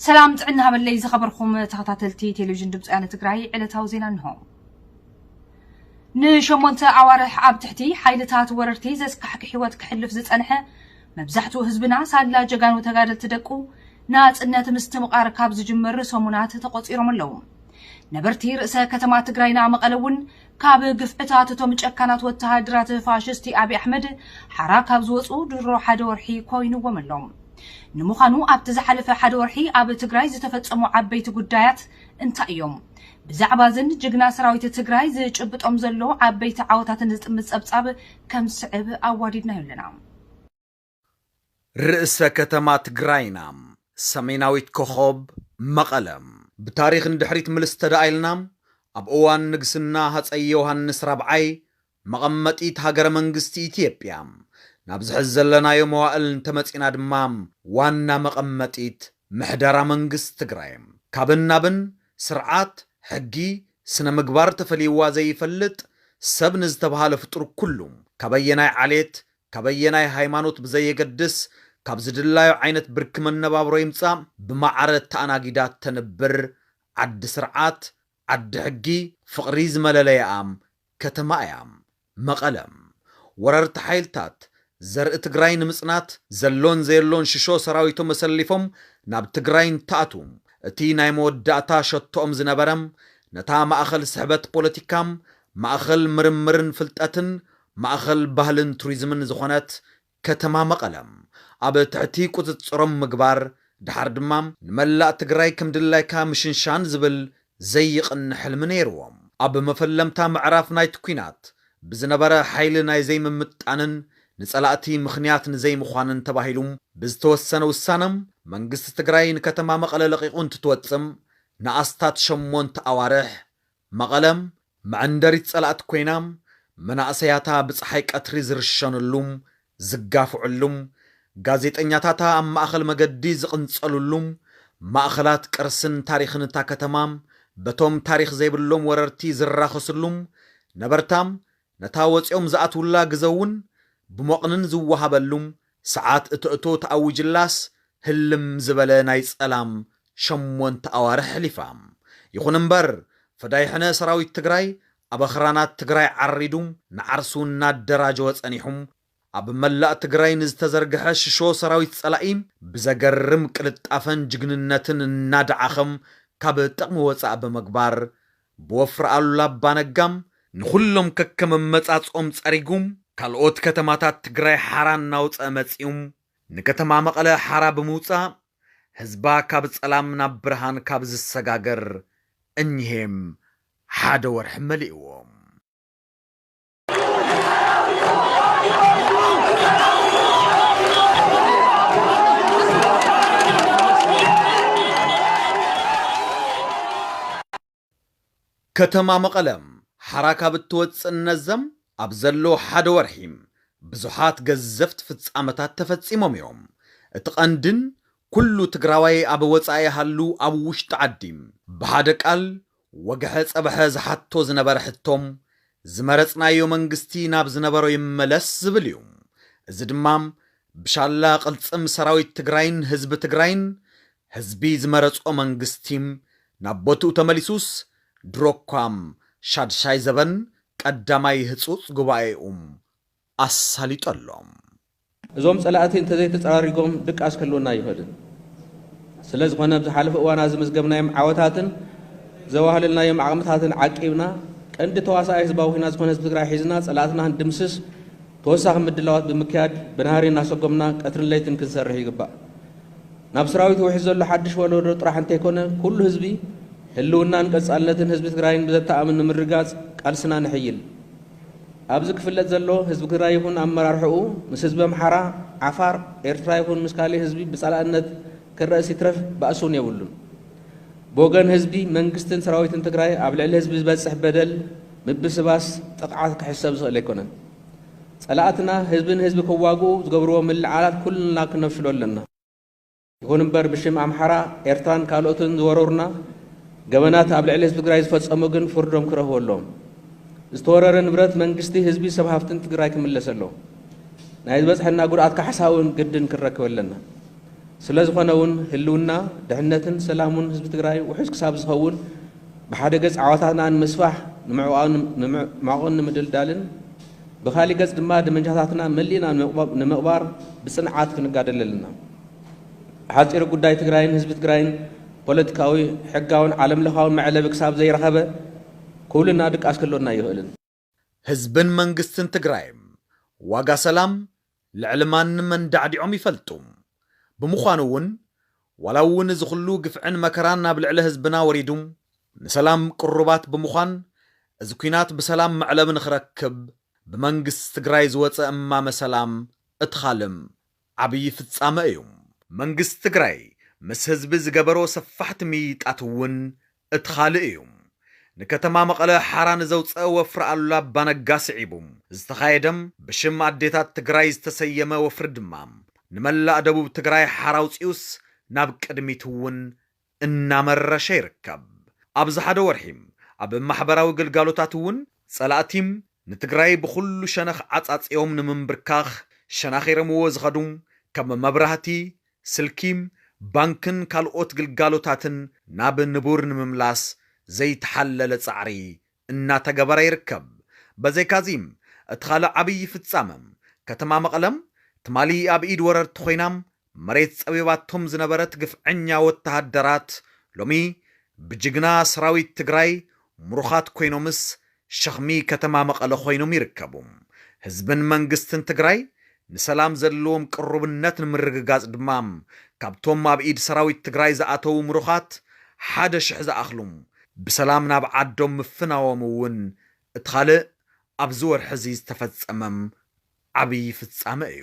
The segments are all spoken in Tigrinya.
ሰላም ጥዕና ሃበለይ ዝኸበርኹም ተኸታተልቲ ቴሌቪዥን ድምፂ ወያነ ትግራይ ዕለታዊ ዜና እንሆ። ንሸሞንተ ኣዋርሕ ኣብ ትሕቲ ሓይልታት ወረርቲ ዘስካሕክ ህይወት ክሕልፍ ዝፀንሐ መብዛሕትኡ ህዝብና ሳላ ጀጋኑ ተጋደልቲ ደቁ ናፅነት ምስትምቓር ካብ ዝጅምር ሰሙናት ተቖፂሮም ኣለዉ። ነበርቲ ርእሰ ከተማ ትግራይና መቐለ እውን ካብ ግፍዕታት እቶም ጨካናት ወተሃደራት ፋሽስቲ ኣብይ ኣሕመድ ሓራ ካብ ዝወፁ ድሮ ሓደ ወርሒ ኮይኑዎም ኣሎ። ንምዃኑ ኣብቲ ዝሓለፈ ሓደ ወርሒ ኣብ ትግራይ ዝተፈፀሙ ዓበይቲ ጉዳያት እንታይ እዮም? ብዛዕባ እዝን ጅግና ሰራዊት ትግራይ ዝጭብጦም ዘሎ ዓበይቲ ዓወታትን ዝጥምት ፀብፃብ ከም ዝስዕብ ኣዋዲድናዮ ኣለና። ርእሰ ከተማ ትግራይና ሰሜናዊት ኮኾብ መቐለ። ብታሪኽ ንድሕሪት ምልስ ተደኣኢልና ኣብ እዋን ንግስና ሃፀይ ዮሃንስ ራብዓይ መቐመጢት ሃገረ መንግስቲ ኢትዮጵያ ናብዚ ሕዚ ዘለናዮ መዋእል እንተመፂእና ድማ ዋና መቐመጢት ምሕደራ መንግስቲ ትግራይ ካብን ናብን ስርዓት፣ ሕጊ፣ ስነ ምግባር ተፈልይዋ ዘይፈልጥ ሰብ ንዝተብሃለ ፍጡር ኩሉ ካበየናይ ዓሌት ካብ ኣየናይ ሃይማኖት ብዘየገድስ ካብ ዝድላዩ ዓይነት ብርኪ መነባብሮ ይምፃእ ብማዕረ ተኣናጊዳ ተንብር ዓዲ ስርዓት፣ ዓዲ ሕጊ፣ ፍቕሪ ዝመለለይኣ ከተማ እያ መቐለ። ወረርቲ ሓይልታት ዘርኢ ትግራይ ንምፅናት ዘሎን ዘየሎን ሽሾ ሰራዊቶም ኣሰሊፎም ናብ ትግራይ እንትኣትዉ እቲ ናይ መወዳእታ ሸቶኦም ዝነበረ ነታ ማእኸል ስሕበት ፖለቲካ፣ ማእኸል ምርምርን ፍልጠትን፣ ማእኸል ባህልን ቱሪዝምን ዝኾነት ከተማ መቐለ ኣብ ትሕቲ ቁፅፅሮም ምግባር ደሓር ድማ ንመላእ ትግራይ ከምድላይካ ምሽንሻን ዝብል ዘይቕን ሕልሚ ነይርዎም። ኣብ መፈለምታ ምዕራፍ ናይቲ ኲናት ብዝነበረ ሓይሊ ናይ ዘይምምጥጣንን ንፀላእቲ ምኽንያት ንዘይምዃንን ተባሂሉ ብዝተወሰነ ውሳነ መንግስቲ ትግራይ ንከተማ መቐለ ለቒቑ እንትትወፅእ ንኣስታት ሸሞንተ ኣዋርሕ መቐለ መዐንደሪት ፀላእቲ ኮይና፣ መናእሰያታ ብፀሓይ ቀትሪ ዝርሸንሉ፣ ዝጋፍዕሉ፣ ጋዜጠኛታታ ኣብ ማእኸል መገዲ ዝቕንፀልሉ፣ ማእኸላት ቅርስን ታሪኽን እታ ከተማ በቶም ታሪኽ ዘይብሎም ወረርቲ ዝራኸስሉ፣ ነበርታ ነታ ወጺኦም ዝኣትውላ ግዘ'ውን ብሞቕንን ዝወሃበሉ ሰዓት እተእቶ ተኣዊጅላስ ህልም ዝበለ ናይ ጸላም ሸሞንተ ኣዋርሕ ኣሕሊፋ። ይኹን እምበር ፈዳይሕነ ሰራዊት ትግራይ ኣብ ኣኽራናት ትግራይ ዓሪዱ ንዓርሱ እናደራጀወ ጸኒሑ ኣብ መላእ ትግራይ ንዝተዘርገሐ ሽሾ ሰራዊት ፀላኢ ብዘገርም ቅልጣፈን ጅግንነትን እናደዓኸም ካብ ጥቕሚ ወፃእ ብምግባር ብወፍሪ ኣሉላ ኣባ ነጋ ንኹሎም ከከም ኣመፃፅኦም ፀሪጉ ካልኦት ከተማታት ትግራይ ሓራ እናውፀኣ መፂኡ ንከተማ መቐለ ሓራ ብምውፃእ ህዝባ ካብ ፀላም ናብ ብርሃን ካብ ዝሰጋገር እኒሀ ሓደ ወርሒ መሊእዎ። ከተማ መቐለ ሓራ ካብ እትወፅእ እነዘም ኣብ ዘሎ ሓደ ወርሒ ብዙሓት ገዘፍቲ ፍፃመታት ተፈፂሞም እዮም። እቲ ቀንድን ኩሉ ትግራዋይ ኣብ ወፃኢ ሃሉ ኣብ ውሽጢ ዓዲ ብሓደ ቃል ወግሐ ጸብሐ ዝሓቶ ዝነበረ ሕቶ፣ ዝመረጽናዮ መንግስቲ ናብ ዝነበሮ ይመለስ ዝብል እዩ። እዚ ድማ ብሻላ ቅልጽም ሰራዊት ትግራይን ህዝቢ ትግራይን፣ ህዝቢ ዝመረጾ መንግስቲ ናብ ቦትኡ ተመሊሱስ፣ ድሮኳ ሻድሻይ ዘበን ቀዳማይ ህጹጽ ጉባኤኡ ኣሳሊጡ ኣሎ። እዞም ፀላእቲ እንተዘይተፀራሪጎም ድቃስ ክህልወና ኣይኽእልን። ስለዝኾነ ኣብ ዝሓለፉ እዋናት ዝመዝገብናዮም ዓወታትን ዘዋህለልናዮም ዓቕምታትን ዓቂብና ቀንዲ ተዋሳኣይ ህዝባዊ ኹናት ዝኾነ ህዝቢ ትግራይ ሒዝና ፀላእትና ክንድምስስ ተወሳኺ ምድላዋት ብምክያድ ብናህሪ እናሰጎምና ቀትርን ለይትን ክንሰርሕ ይግባእ። ናብ ስራዊት ውሒዝ ዘሎ ሓድሽ ወለዶ ጥራሕ እንተይኮነ ኩሉ ህዝቢ ህልውናን ቀፃልነትን ህዝቢ ትግራይን ብዘተኣምን ንምርግጋፅ ቃልስና ነሐይል። ኣብዚ ክፍለጥ ዘሎ ህዝቢ ትግራይ ይኹን ኣመራርሕኡ ምስ ህዝቢ ኣምሓራ፣ ዓፋር፣ ኤርትራ ይኹን ምስ ካሊእ ህዝቢ ብፃላእነት ክረእስ ይትረፍ ባእሲ ውን የብሉን። ብወገን ህዝቢ፣ መንግስትን ሰራዊትን ትግራይ ኣብ ልዕሊ ህዝቢ ዝበፅሕ በደል፣ ምብስባስ፣ ጥቕዓት ክሕሰብ ዝኽእል ኣይኮነን። ፀላእትና ህዝቢ ንህዝቢ ክዋግኡ ዝገብርዎ ምልዕዓላት ኩልና ክነፍሽሎ ኣለና። ይኹን እምበር ብሽም ኣምሓራ፣ ኤርትራን ካልኦትን ዝወረሩና ገበናት ኣብ ልዕሊ ህዝቢ ትግራይ ዝፈፀሙ ግን ፍርዶም ክረኽቡ ኣለዎም። ዝተወረረ ንብረት መንግስቲ፣ ህዝቢ፣ ሰብ ሃፍትን ትግራይ ክምለስ ኣለዎ። ናይ ዝበፅሐና ጉድኣት ካሕሳ እውን ግድን ክንረክብ ኣለና። ስለዝኾነ እውን ህልውና፣ ድሕነትን ሰላሙን ህዝቢ ትግራይ ውሑስ ክሳብ ዝኸውን ብሓደ ገፅ ዓወታትና ንምስፋሕ ንምዕቋቕን ንምድልዳልን ብኻሊእ ገፅ ድማ ደመንጃታትና መሊእና ንምቕባር ብፅንዓት ክንጋደል ኣለና። ብሓፂሩ ጉዳይ ትግራይን ህዝቢ ትግራይን ፖለቲካዊ፣ ሕጋውን ዓለም ለኻውን መዕለቢ ክሳብ ዘይረኸበ ኩብልና ድቃስ ክህልወና ኣይኽእልን። ህዝብን መንግስትን ትግራይም ዋጋ ሰላም፣ ልዕሊ ማንም ኣንዳዕዲዖም ይፈልጡ። ብምዃኑ እውን ዋላ እውን እዚ ኩሉ ግፍዕን መከራን ኣብ ልዕሊ ህዝብና ወሪዱ ንሰላም ቅሩባት ብምዃን እዚ ኲናት ብሰላም መዕለቢ ንኽረክብ ብመንግስቲ ትግራይ ዝወፀ እማመ ሰላም እቲ ኻልም ዓብዪ ፍፃመ እዩ። መንግስቲ ትግራይ ምስ ህዝቢ ዝገበሮ ሰፋሕቲ ምይይጣት እውን እቲ ኻልእ እዩ። ንከተማ መቐለ ሓራ ንዘውፀ ወፍሪ ኣሉላ ኣባነጋ ስዒቡ ዝተኻየደ ብሽም ኣዴታት ትግራይ ዝተሰየመ ወፍሪ ድማ ንመላእ ደቡብ ትግራይ ሓራ ኣውፂኡስ ናብ ቅድሚት እውን እናመረሸ ይርከብ። ኣብዚ ሓደ ወርሒ ኣብ ማሕበራዊ ግልጋሎታት እውን ፀላእቲ ንትግራይ ብኹሉ ሸነኽ ዓፃፂዮም ንምምብርካኽ ሸናኺረምዎ ዝኸዱ ከም መብራህቲ፣ ስልኪ፣ ባንክን ካልኦት ግልጋሎታትን ናብ ንቡር ንምምላስ ዘይተሓለለ ፃዕሪ እናተገበረ ይርከብ። በዘይካ'ዚ እቲ ካልእ ዓብዪ ፍፃመ ከተማ መቐለ ትማሊ ኣብ ኢድ ወረርቲ ኮይና መሬት ፀቢባቶም ዝነበረት ግፍዐኛ ወተሃደራት ሎሚ ብጅግና ሰራዊት ትግራይ ምሩኻት ኮይኖምስ ሸኽሚ ከተማ መቐለ ኮይኖም ይርከቡ። ህዝብን መንግስትን ትግራይ ንሰላም ዘለዎም ቅሩብነት ንምርግጋፅ ድማ ካብቶም ኣብ ኢድ ሰራዊት ትግራይ ዝኣተዉ ምሩኻት ሓደ ሽሕ ዝኣኽሉ ብሰላም ናብ ዓዶም ምፍናዎም እውን እቲ ኻልእ ኣብዚ ወርሒ እዚ ዝተፈፀመ ዓብዪ ፍፃመ እዩ።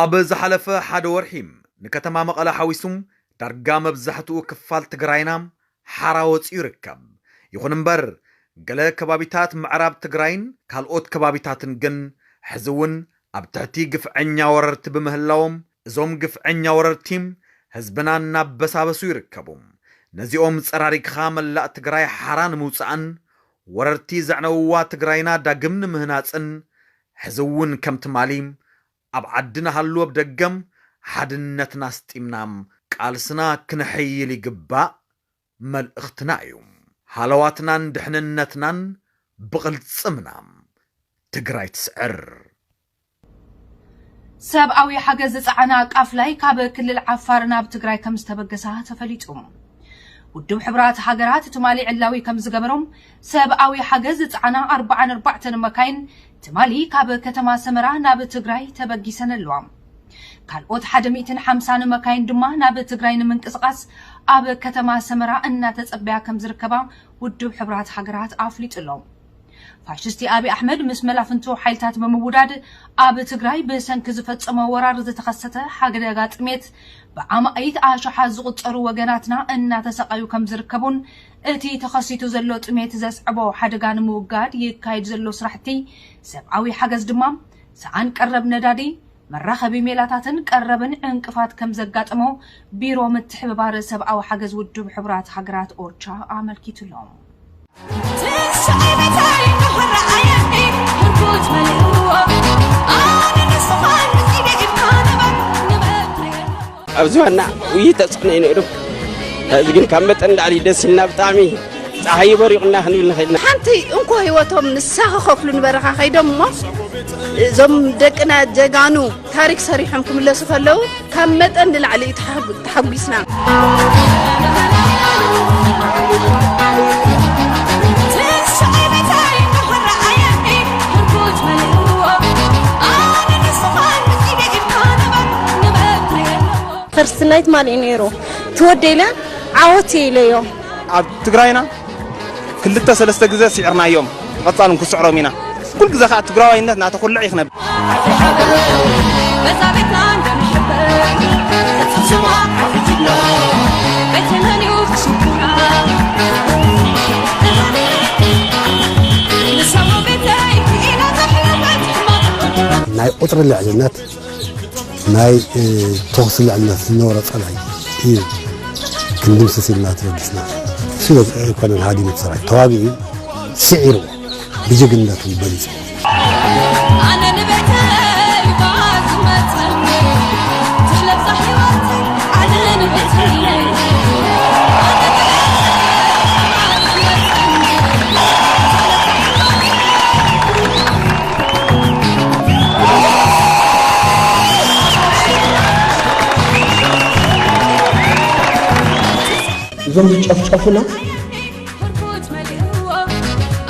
ኣብ ዝሓለፈ ሓደ ወርሒ ንከተማ መቐለ ሓዊሱ ዳርጋ መብዛሕትኡ ክፋል ትግራይና ሓራ ወፂኡ ይርከብ። ይኹን እምበር ገለ ከባቢታት ምዕራብ ትግራይን ካልኦት ከባቢታትን ግን ሕዚ እውን ኣብ ትሕቲ ግፍዐኛ ወረርቲ ብምህላዎም እዞም ግፍዐኛ ወረርቲ ህዝብና እናበሳበሱ ይርከቡ። ነዚኦም ፀራሪግኻ መላእ ትግራይ ሓራ ንምውፃእን ወረርቲ ዘዕነውዋ ትግራይና ዳግም ንምህናፅን ሕዚ እውን ከም ትማሊ ኣብ ዓዲ ንሃሉ ኣብ ደገ ሓድነትና ኣስጢምና ቃልስና ክነሕይል ይግባእ መልእኽትና እዩ። ሃለዋትናን ድሕንነትናን ብቕልፅምና! ትግራይ ትስዕር! ሰብኣዊ ሓገዝ ዝፀዓና ቃፍላይ ካብ ክልል ዓፋር ናብ ትግራይ ከምዝተበገሳ ተፈሊጡ። ውድብ ሕቡራት ሃገራት ትማሊ ዕላዊ ከምዝገበሮ ሰብኣዊ ሓገዝ ዝጸዓና ኣርብዓን ኣርባዕተን መካይን ትማሊ ካብ ከተማ ሰመራ ናብ ትግራይ ተበጊሰን ኣለዋ። ካልኦት ሓደ ሚእትን ሓምሳን መካይን ድማ ናብ ትግራይ ንምንቅስቓስ ኣብ ከተማ ሰመራ እናተጸበያ ከም ዝርከባ ውድብ ሕቡራት ሃገራት ኣፍሊጡ ኣሎ። ፋሽስቲ ኣብይ ኣሕመድ ምስ መላፍንቱ ሓይልታት ብምውዳድ ኣብ ትግራይ ብሰንኪ ዝፈጸሞ ወራር ዝተኸሰተ ሓደጋ ጥሜት ብኣማኢት ኣሽሓት ዝቑጸሩ ወገናትና እናተሰቓዩ ከም ዝርከቡን እቲ ተኸሲቱ ዘሎ ጥሜት ዘስዐቦ ሓደጋ ንምውጋድ ይካየድ ዘሎ ስራሕቲ ሰብኣዊ ሓገዝ ድማ ሰኣን ቀረብ ነዳዲ፣ መራኸቢ ሜላታትን ቀረብን ዕንቅፋት ከምዘጋጠሞ ቢሮ ምትሕብባር ሰብኣዊ ሓገዝ ውድብ ሕቡራት ሃገራት፣ ኦቻ፣ ኣመልኪቱ'ሎ። ኣብዚ ዋና ውይይት ተፅዕኖ እዩ ነይሩ እዚ ግን ካብ መጠን ንላዕሊ ደስ ኢልና ብጣዕሚ ፀሓይ በሪቑና ክንብል ንኽእል ኢና ሓንቲ እንኮ ህይወቶም ንሳ ክኸፍሉ ንበረኻ ከይዶም እሞ እዞም ደቅና ጀጋኑ ታሪክ ሰሪሖም ክምለሱ ከለዉ ካብ መጠን ንላዕሊ እዩ ተሓጉ- ተሓጒስና ፈርስት ናይት ማል እዩ ነይሩ ትወደ ኢለ ዓወት እየ ኢለዮ ኣብ ትግራይና ክልተ ሰለስተ ግዜ ስዕርናዮም ብቐጻሉ ክንስዕሮም ኢና ኩል ግዜ ከዓ ትግራዋይነት እናተኹልዕ እዩ ክነብር ናይ ቁፅሪ ልዕልነት ናይ ተኹሲ ልዕልና ዝነበሮ ፀላኢ እዩ ክንድምስስ ኢልና ተበጊስና ስለ ኣይኮነን ሃዲሙ ሰራዊት ተዋጊኡ ስዒርዎ ብጀግንነቱ በሊፁ እዞም ዝጨፍጨፉና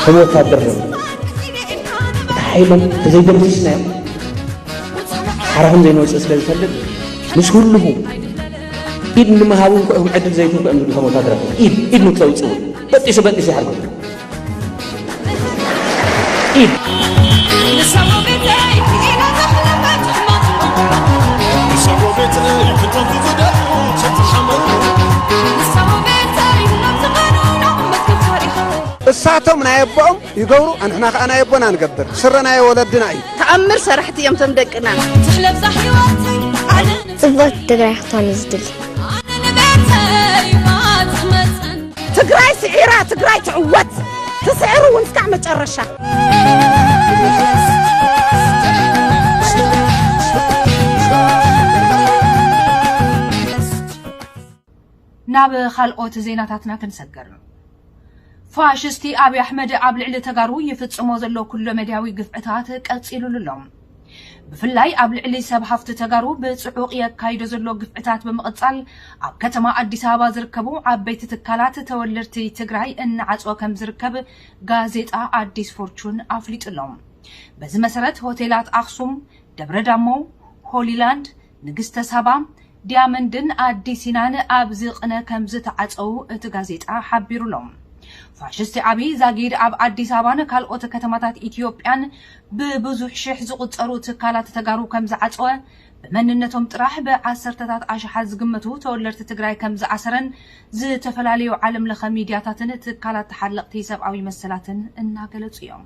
ከም ወታደር ነ እቲ ሓይሎም ተዘይደምስስናዮም ሓራ ከም ዘይንወፅእ ስለ ዝፈልጥ ምስ ህልኹ ኢድ ንምሃብ እውን ክዕድል ዘይትንኩ እዮም ዝብሉ ከም ወታደራት ኢድ ኢድ ንክተውፅእ እውን በጢሱ በጢሱ ይሓርጎ እሳቶም ናይ ኣቦኦም ይገብሩ ኣንሕና ከዓ ናይ ኣቦና ንገብር ስረ ናይ ወለድና እዩ ተኣምር ሰራሕቲ እዮም ቶም ደቅና ጽብቕቲ ትግራይ ክትኮን ዝድል ትግራይ ስዒራ ትግራይ ትዕወት ትስዕር እውን እስካዕ መጨረሻ ናብ ካልኦት ዜናታትና ክንሰግር ፋሽስቲ ኣብዪ ኣሕመድ ኣብ ልዕሊ ተጋሩ ይፍጽሞ ዘሎ ኩለመዳያዊ ግፍዕታት ቀጺሉሉ ኣሎ ብፍላይ ኣብ ልዕሊ ሰብ ሃፍቲ ተጋሩ ብፅዑቕ የካይዶ ዘሎ ግፍዕታት ብምቕፃል ኣብ ከተማ ኣዲስ ኣበባ ዝርከቡ ዓበይቲ ትካላት ተወለድቲ ትግራይ እናዓፅወ ከምዝርከብ ጋዜጣ ኣዲስ ፎርቹን ኣፍሊጡ'ሎ። በዚ መሰረት ሆቴላት ኣኽሱም፣ ደብረ ዳሞ፣ ሆሊላንድ፣ ንግስተ ሳባ፣ ዲያመንድን ኣዲ ሲናን ኣብዚ ቕነ ከም ዝተዓጸዉ እቲ ጋዜጣ ሓቢሩ ኣሎ። ፋሽስቲ ኣብይ ዛጊድ ኣብ ኣዲስ ኣበባን ካልኦት ከተማታት ኢትዮጵያን ብብዙሕ ሽሕ ዝቑጸሩ ትካላት ተጋሩ ከም ዝዓጸወ፣ ብመንነቶም ጥራሕ ብዓሰርተታት ኣሽሓት ዝግመቱ ተወለድቲ ትግራይ ከም ዝኣሰረን ዝተፈላለዩ ዓለምለኸ ሚድያታትን ትካላት ተሓለቕቲ ሰብኣዊ መሰላትን እናገለጹ እዮም።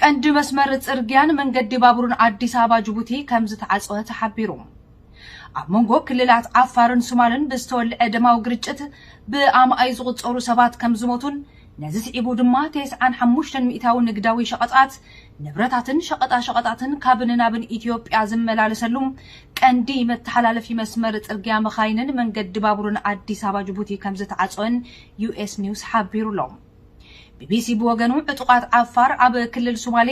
ቀንዲ መስመር ፅርግያን መንገዲ ባቡርን ኣዲስ ኣበባ ጅቡቲ ከምዝተዓፅወ ተሓቢሩ። ኣብ መንጎ ክልላት ዓፋርን ሱማልን ብዝተወልዐ ደማዊ ግርጭት ብኣማኢት ዝቑፀሩ ሰባት ከምዝሞቱን ነዚ ስዒቡ ድማ ቴስዓን ሓሙሽተን ሚእታዊ ንግዳዊ ሸቐጣት፣ ንብረታትን ሸቐጣሸቐጣትን ካብን ናብን ኢትዮጵያ ዝመላለሰሉ ቀንዲ መተሓላለፊ መስመር ፅርግያ መኻይንን መንገዲ ባቡርን ኣዲስ ኣበባ ጅቡቲ ከምዝተዓፅወን ዩኤስ ኒውስ ሓቢሩ'ሎ። ቢቢሲ ብወገኑ ዕጡቓት ዓፋር ኣብ ክልል ሱማሌ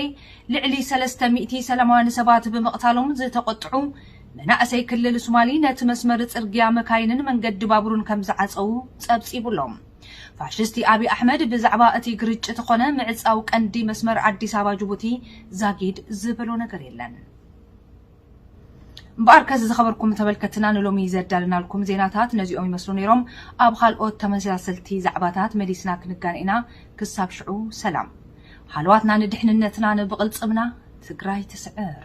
ልዕሊ ሰለስተ ሚእቲ ሰላማውያን ሰባት ብምቕታሎም ዝተቖጥዑ መናእሰይ ክልል ሱማሊ ነቲ መስመር ጽርግያ መካይንን መንገዲ ባቡርን ከም ዝዓጸዉ ጸብጺቡ ኣሎ። ፋሽስቲ ኣብይ ኣሕመድ ብዛዕባ እቲ ግርጭት ኾነ ምዕጻው ቀንዲ መስመር ኣዲስ ኣበባ ጅቡቲ ዛጊድ ዝበሎ ነገር የለን። እምበኣር ከስ ዝኸበርኩም ተመልከትና ንሎሚ ዘዳልናልኩም ዜናታት ነዚኦም ይመስሉ ነይሮም። ኣብ ኻልኦት ተመሳሰልቲ ዛዕባታት መሊስና ክንጋነ ኢና። ክሳብ ሽዑ ሰላም። ሃለዋትና ንድሕንነትና ንብቕልፅምና ትግራይ ትስዕር።